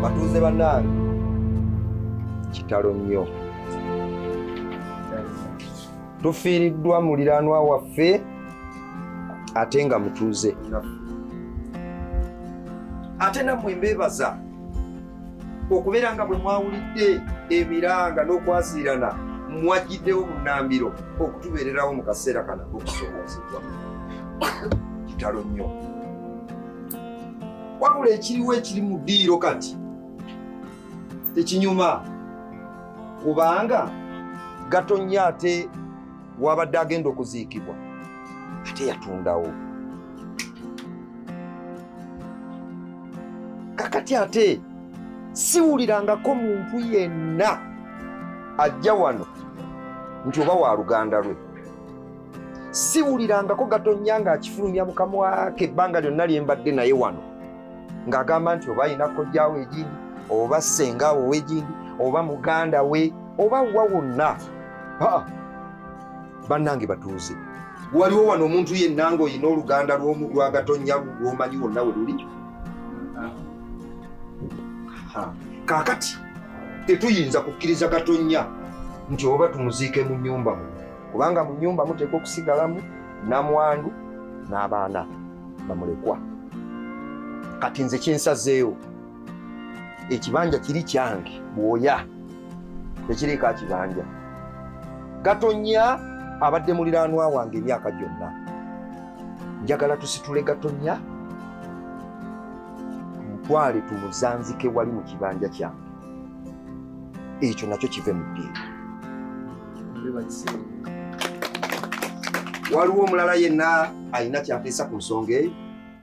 batuuze banange kitalo nnyo tufiiriddwa muliranwa waffe ate nga mutuuze ate nammwe mbeebaza okubeera nga bwe mwawulidde emiranga n'okwasiirana mwajjiddewo bunambiro okutubeererawo mu kaseera kana okusoboozebwa kitalo nnyo wabula ekiriwo ekiri mu ddiiro kati tekinyuma kubanga gatonnya ate wabadde agenda okuziikibwa ate yatundawo kakati ate siwulirangako muntu yenna ajja wano nti oba wa luganda lwe siwulirangako gatonnya ng'akifulumya mukamwa ke ebbanga lyonna lye mbadde naye wano ng'agamba nti oba alina kojjaawo egindi oba ssengaawo ow'egindi oba muganda we oba wa wonna bannange batuuze waliwo wano omuntu yenna ng'olina oluganda lwagatonnya lwomanyi wonna we luli kaakati tetuyinza kukkiriza gatonnya nti oba tumuziike mu nnyumba mu kubanga mu nyumba muteekwa okusigalamu namwandu n'abaana bamulekwa kati nze kyensazeewo ekibanja kiri kyange bwoya tekiriiko akibanja gatonya abadde muliranwa wange emyaka gyonna njagala tusitule gatonya tumutwale tumuzanzike wali mu kibanja kyange ekyo nakyo kive mu ddiini waliwo omulala yenna alina kyateesa ku nsonga eyo